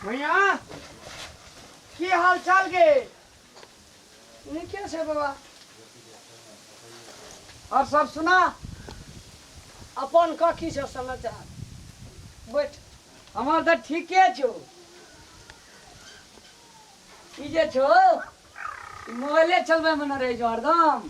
भैया की हाल चाल के नीके छै बाबा और सब सुना अपन का की छै समाचार बैठ हमर तऽ ठीके छौ ई जे छौ ई मोबाइले चलबै मे न रहै छौ हरदम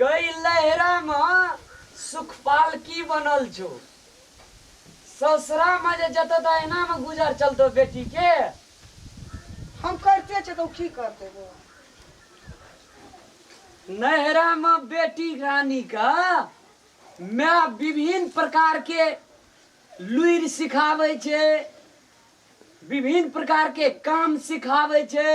गइ लैहरा म सुखपाल की बनल छो? सौसरा म जे जतो त एना म गुजर चलतो बेटी के? हम करिते छियै त ओ की करतै बौआ? नैहरा म बेटी रानी क माय विभिन्न प्रकार के लुइर सिखाबै छै, विभिन्न प्रकार के काम सिखाबै छै।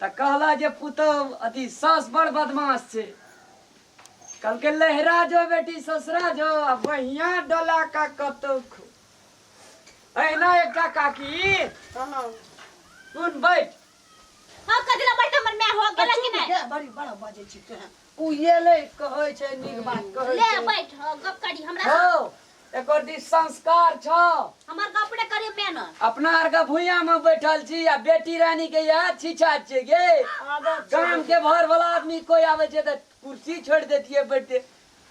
तऽ कहला जे पुतहु अथी सास बड़ बदमाश छै कहलकै लहरा जो बेटी ससुरा जो आ बहिया डोला का कतौ खो अहिना एकटा काकी कहलहुँ सुन बैठ हाँ कथी ला बैठ हमर माय हो गेला कि नहीं बड़ी बड़ा बाजै छी तोरा कुयले कहै छै नीक बात कहै ले छै बैठ हँ, गप करी हमरा से। हौ एकर दी संस्कार छौ हमर गप ने करी मैन अपना आर के भुइया में बैठल छी आ बेटी रानी के याद छिछा छियै गे गाम के भर वाला आदमी कोई आवे छै त कुर्सी छोड़ देतिए बैठते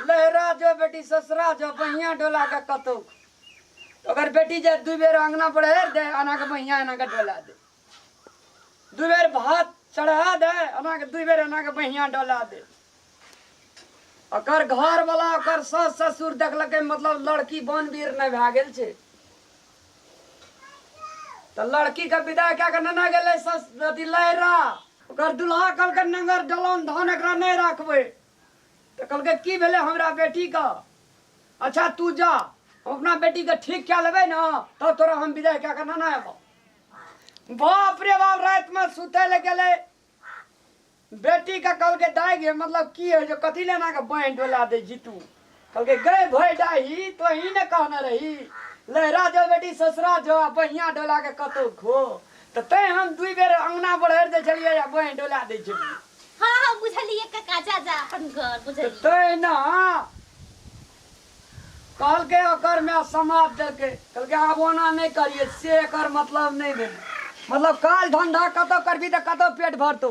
लहरा जो बेटी ससरा जो बहिया डोला के कतौ तो अगर बेटी जे दू बेर अंगना पर हेर दे अना के बहिया अना के डोला दे दू बेर भात चढ़ा दे अना के दू बेर अना के बहिया डोला दे ओकर घर वाला ओकर सास ससुर देखलकै मतलब लड़की बनवीर नहि भए गेल छै तऽ लड़की के विदा कए कऽ नेने गेलै सस अथी लहरा ओकर दुल्हा कहलकै नगर डलान धान एकरा नहि राखबै तऽ कहलकै की भेलै हमरा बेटीके अच्छा तू जा हम अपना बेटीके ठीक कए लेबै ने तब तोरा हम विदाइ कए कऽ नाना एबौ बाप रे बाप रातिमे सुतै लए गेलै बेटीके कहलकै दाइ गे मतलब की होइ छै कथी लए एनाके बाँहि डोला दै छी तू कहलकै गए भय डाही तो ही ने कहना रही लहरा जो बेटी ससुरा जो आ बहिया डोला के कतौ खो तऽ तैं हम दुई बेर अंगना बढ़ि दै छलियै आ बहि डोला दै छलियै हाँ हाँ बुझलिए कका जा जा अपन घर तऽ बुझलिए तहिना कहलकै ओकर माय समाद देलकै कहलकै आब ओना नहि करियै से एकर मतलब नहि भेलै मतलब काज धंधा कतौ करबही तऽ कतौ पेट भरतौ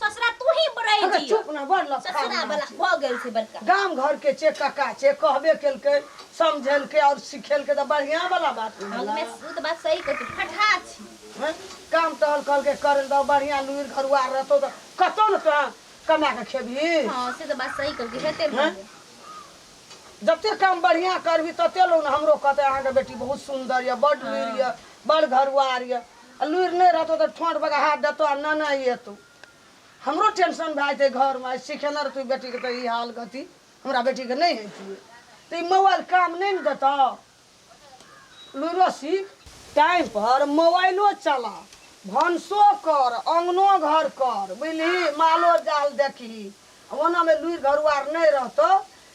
ससुरा तू ही बड़े अगर दियो चुप ना बड़ लफड़ा ससुरा ना। वाला हो गेल छै बड़का गाम घर के छे कका छे कहबे केलकै समझेलकै और सिखेलकै तऽ बढ़िया वाला बात ने हम भेलै। में सूत बात सही कहते फटा छी हैं? काम टहल कहल के करे दो बढ़िया लुइर घरुआ रहतो तऽ कतौ ने तोरा कमा के खेबही हां से तो बात सही कहते हेते हैं? भागे जते काम बढ़िया करबी तते लोग ने हमरो कहते अहाँ के बेटी बहुत सुंदर ये बड लुइर ये बड़ घरुआर ये आ लुरि नहि रहतौ तऽ ठोंठ बगा हाथ देतौ आ नेने अयतौ हमरो टेंशन भए जेतै घरमे आइ सिखेने रहतौ बेटीके तऽ ई हाल गति हमरा बेटीके नहि हेतियै तऽ ई मोबाइल काम नहि ने देतौ लुरो सीख टाइम पर मोबाइलो चला भनसो कर अङ्गनो घर कर बुझलिही मालो जाल देखही ओनामे लुरि घरुआर नहि रहतौ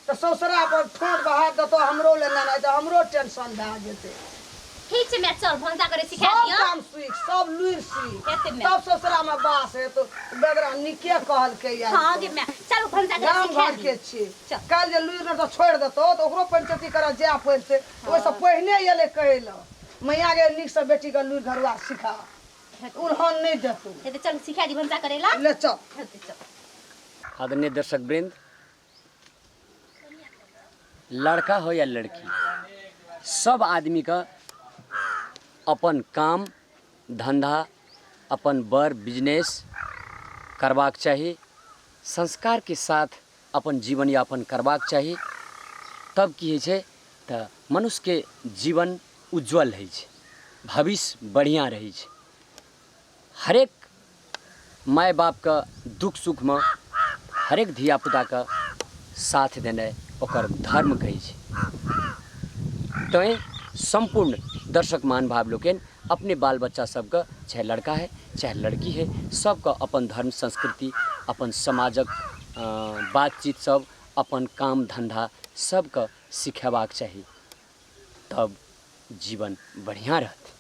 तँ सौसरा अपन ठोंट बहारि देतौ हमरो ले नेनाइ तँ हमरो टेंशन भए जेतै। ठीक छै माए, चल भनसा करय सिखा सब दिअ। काम सीख, सब लुरि सीख। हेतै माए। तब सौसरामे बास हेतौ। बेगरा नीके कहलकै यए ई हँ गे तँ। माए, चल भनसा करय गाम सिखा दिअ। घरके छियै। चल। काल्हि जे लुरि नहि तँ छोड़ि देतौ तँ ओकरो पञ्चैती करय जाए पड़ितै। ओहिसँ पहिने एलै कहय ले। मैया गे नीकसँ बेटीकेँ लुरि घरुआर सिखा। हेतै। उलहन नहि देतौ। हेतै, चल सिखा दिअ भनसा करय ले। ले चल। हेतै, चल। आदरणीय दर्शकवृन्द, लड़का हो या लड़की सब आदमी का अपन काम धंधा अपन बर बिजनेस करबाक चाही संस्कार के साथ अपन जीवन यापन करबाक चाही तब की होइ छै तऽ मनुष्य के जीवन उज्जवल होइ छै भविष्य बढ़िया रहै छै हरेक माय बाप के दुःख सुख मे हरेक धिया पुता के साथ देनाइ ओकर धर्म कहै छै। तैं सम्पूर्ण दर्शक महानुभाव लोकनि अपने बाल बच्चा सब के चाहे लड़का है चाहे लड़की है सब के अपन धर्म संस्कृति अपन समाजक बात चीत सब अपन काम धंधा सब के सिखेबाक चाही तब जीवन बढ़िया रहतै।